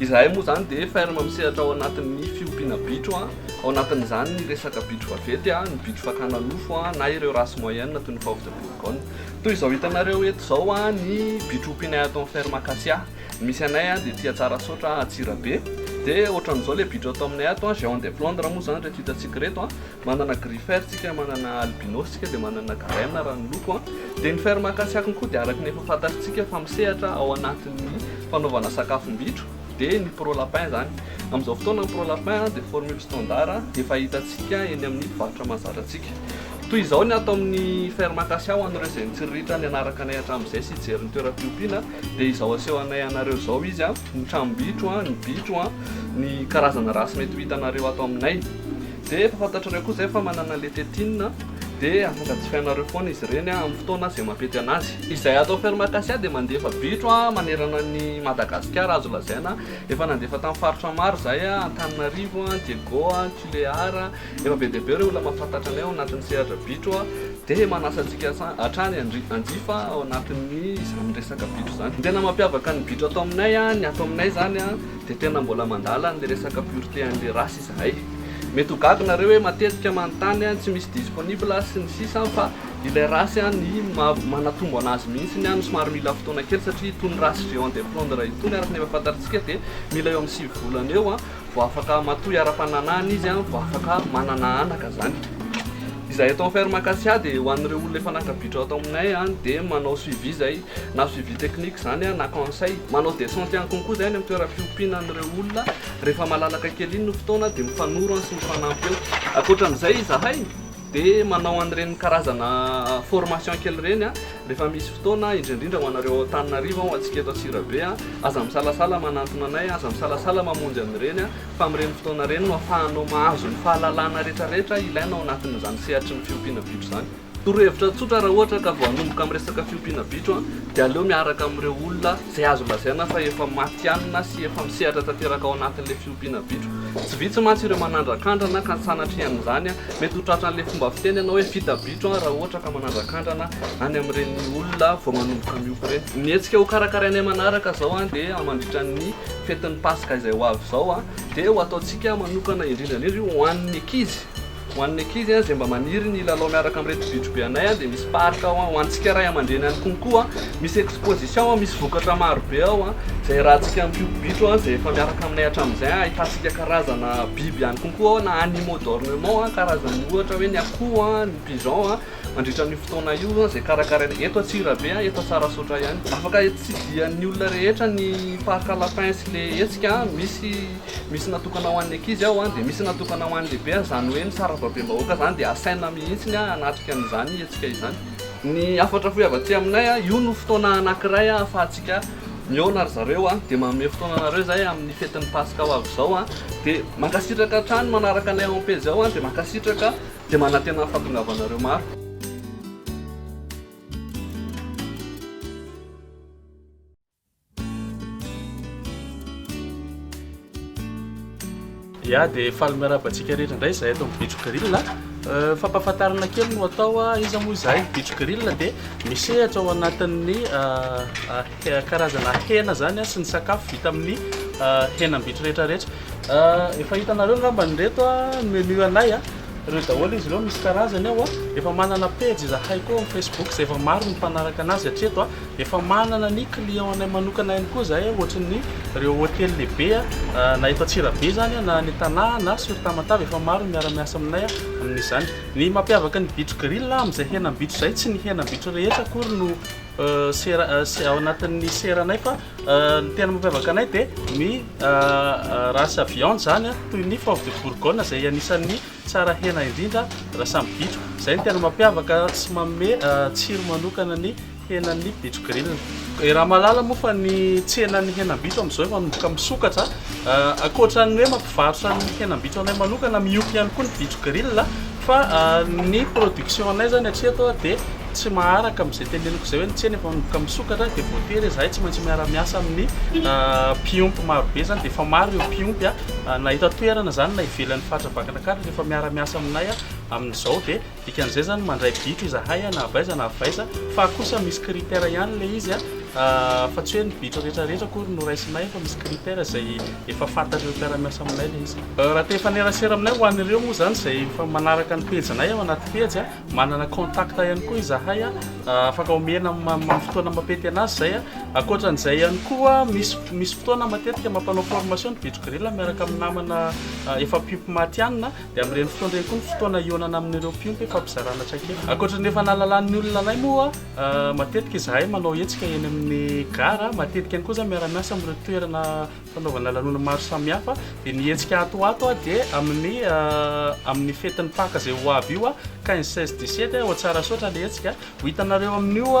Izahay moa izany dia ferme misehatra ao anatin'ny fiompiana bitro, ao anatin'izany ny resaka bitro vaventy, ny bitro fakana nofo na ireo race moyenne toy ny fauve de Bourgogne. Toy izao hitanareo eto izao ny bitro ompianay ato amin'ny ferme Acacia. Ny misy anay dia aty Antsarasaotra, Antsirabe. Dia ohatran'izao ilay bitro atao aminay ato, géant de Flandre moa izany ireto hitantsika ireto. Manana griffer tsika, manana albinos tsika, dia manana green raha ny loko an. Dia ny fer mankasiakiny koa dia araka ny efa fantatritsika fa misehatra ao anatin'ny fanaovana sakafom-bitro dia ny pro lapin izany. Amin'izao fotoana ny pro lapin dia formule standard efa hitantsika eny amin'ny mpivarotra mahazatra antsika. Toy izao ny ato amin'ny fer mankasiaho an'ireo izay nitsiriritra nianaraka anay hatramin'izay sy hijery ny toeram-piompiana dia izao aseho anay anareo izao izy an, ny tranom-bitro an, ny bitro an, ny karazana race mety ho hitanareo ato aminay. Dia efa fantatrareo koa izay fa manana lecthetine a, dia afaka jifainareo foana izy ireny a, amin'ny fotoana izay mampety an'azy. Izay ato Ferme-Acacia dia mandefa bitro a, manerana an'i Madagasikara azo lazaina. Efa nandefa tamin'ny faritra maro izahay a, Antananarivo a, Diego a, Tulear a. Efa be dia be ireo olona mahafantatra anay ao anatin'ny sehatra bitro a, dia manasa antsika hatrany handry hanjifa ao anatin'ny izany resaka bitro izany. Ny tena mampiavaka ny bitro ato aminay a, ny ato aminay izany a, dia tena mbola mandala an'ilay resaka pureté an'ilay race. Zay. Mety ho gaga nareo hoe matetika manontany an tsy misy disponible an sy ny sisa an fa ilay race an ny manatombo anazy mihitsy an no somary mila fotoana kely satria itony race géant de flandre itony araka ny efa fantatsika dia mila eo amin'ny sivy volana eo an vao afaka matoy ara-pananahana izy an vao afaka manana anaka zany. Izahay eto amin'ny ferme Acacia dia ho an'ireo olona efa nankabitra ato aminay an dia manao suivi zay na suivi technique zany an na conseil manao descente ihany koa koa zay any amin'ny toeram-piompiana an'ireo olona Rehefa malalaka kely iny ny fotoana dia mifanoro an sy mifanampy eo. Ankoatra an'izay izahay dia manao an'ireny karazana formation kely ireny an, rehefa misy fotoana, indrindra indrindra ho anareo ao Antananarivo an, ho antsika eto Antsirabe an, aza misalasala manantona anay an, aza misalasala mamonjy an'ireny an, fa amin'ireny fotoana ireny no afahanao mahazo ny fahalalana rehetra rehetra ilaina ao anatin'izany sehatry ny fiompiana bitro izany. Torohevitra tsotra, raha ohatra ka vao hanomboka amin'ny resaka fiompiana bitro dia aleo miaraka amin'ireo olona izay azo lazaina fa efa matihanina sy efa misehatra tanteraka ao anatin'ilay fiompiana bitro. Tsy vitsy mantsy ireo manandrakandrana ka sanatrian'izany mety ho tratran'ilay fomba fiteny ianao hoe vita bitro raha ohatra ka manandrakandrana any amin'ireny olona vao manomboka miompy ireny. Ny hetsika ho karakarainay manaraka izao dia mandritra ny fetin'ny paska izay ho avy izao dia ho ataontsika manokana indrindra indrindra io ho an'ny ankizy. Ho an'ny ankizy izay mba maniry ny hilalao miaraka amin'ireto bitro be anay dia misy parc ao. Ho antsika ray aman-dreny ihany koa koa misy exposition, misy vokatra maro be ao izay iarahantsika amin'ny mpiompy-bitro izay efa miaraka aminay hatramin'izay. Ahitantsika karazana biby ihany koa koa ao na animaux d'ornement, karazan'ny ohatra hoe ny akoho, ny pigeon mandritra an'io fotoana io izay karakarainay eto Antsirabe, eto Tsarasaotra ihany. Afaka tsidihan'ny olona rehetra ny parc lapin sy ilay hetsika, misy. Misy natokana ho an'ny ankizy ao an, dia misy natokana ho an'ny lehibe an, izany hoe ny sarababem-bahoaka izany dia asaina mihitsy ny hanatrika an'izany hetsika izany. Ny hafatra fohy avy aty aminay an, io no fotoana anakiray ahafahantsika mihaona ry zareo an, dia manome fotoana anareo izay amin'ny fetin'ny paska ho avy izao an, dia mankasitraka hatrany manaraka anay ao am-pejy ao an, dia mankasitraka, dia manantena ny fahatongavanareo maro. Ya dia faly miarahaba antsika rehetra indray izahay eto amin'ny Bitro Grill. Euh, fampahafantarana kely no atao ah, iza moa izahay Bitro Grill dia misehatra ao anatin'ny euh, euh, karazana hena izany ah, sy ny sakafo vita amin'ny euh, henam-bitro rehetra rehetra. Euh, efa hitanareo angamba nireto ah, ny menu anay ah. Ireo daholo izy ireo misy karazany ao ah. Efa manana pejy izahay koa amin'ny Facebook izay efa maro ny mpanaraka anazy hatreto ah. Efa manana ny client anay manokana ihany koa izahay ohatry ny ireo hotely lehibe na eto Antsirabe izany na any Tana na sur Tamatave efa maro ny miara-miasa aminay amin'izany. Ny mampiavaka ny bitro grill amin'izay henam-bitro izay tsy ny henam-bitro rehetra akory no ao anatin'ny seranay fa ny tena mampiavaka anay dia ny race viande izany toy ny foie de bourgogne izay anisan'ny tsara hena indrindra raha samy bitro. Izay no tena mampiavaka sy manome tsiro manokana ny henan'ny bitro grille. Eh, raha malala moa fa ny tsenan'ny henam-bitro amin'izao efa manomboka misokatra. Eh, ankoatra ny hoe mampivarotra ny henam-bitro anay manokana, miompy ihany koa ny bitro grille. Fa eh, ny production anay zany atria atao dia tsy maharaka amin'izay teneniko izay hoe ny tsena efa manomboka misokatra dia voatery izahay tsy maintsy miara-miasa amin'ny mpiompy marobe zany dia efa maro ireo mpiompy na eto an-toerana zany na ivelan'ny faritra Vakinankaratra efa miara-miasa aminay amin'izao dia Dikan'izay zany mandray biko izahay na avy aiza na avy aiza fa kosa misy critère ihany ilay izy a fa tsy hoe ny biko rehetra rehetra akory no raisinay fa misy critère izay efa fantatr'ireo mpiara-miasa aminay ilay izy. Raha te hifanerasera aminay ho an'ireo moa izany izay efa manaraka ny pejinay ao anaty pejy a, manana contact ihany koa izahay a, afaka omena amin'ny fotoana mapety an'azy izay a, ankoatran'izay ihany koa misy misy fotoana matetika mampanao formation ny biko grille miaraka amin'ny namana efa mpiompy matihanina, Dia amin'ireny fotoana ireny koa ny fotoana hihaonana amin'ireo mpiompy hifampizarana traikefa. Ankoatra ny efa nahalalan'ny olona anay moa, matetika izahay manao hetsika eny amin'ny gara, matetika ihany koa izahay miara-miasa amin'ireo toerana fanaovana lanonana maro samihafa. Dia ny hetsika ato ho ato dia amin'ny amin'ny fetin'ny Paka izay ho avy io, quinze, seize, dix-sept, ao Tsarasaotra ilay hetsika. Ho hitanareo amin'io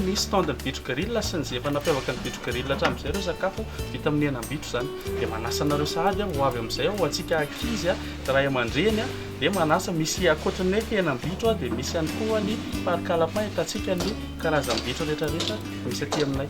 ny stand ny bitro grille sy ny izay efa nampiavaka ny bitro grille hatramin'izay ireo sakafo vita amin'ny henam-bitro izany dia manasa anareo sahady aho ho avy amin'izay aho ho antsika ankizy aho ray aman-dreny dia manasa misy ankoatry ny hoe henam-bitro aho dia misy ihany koa ny parc alapin hitantsika ny karazam-bitro rehetra rehetra misy aty aminay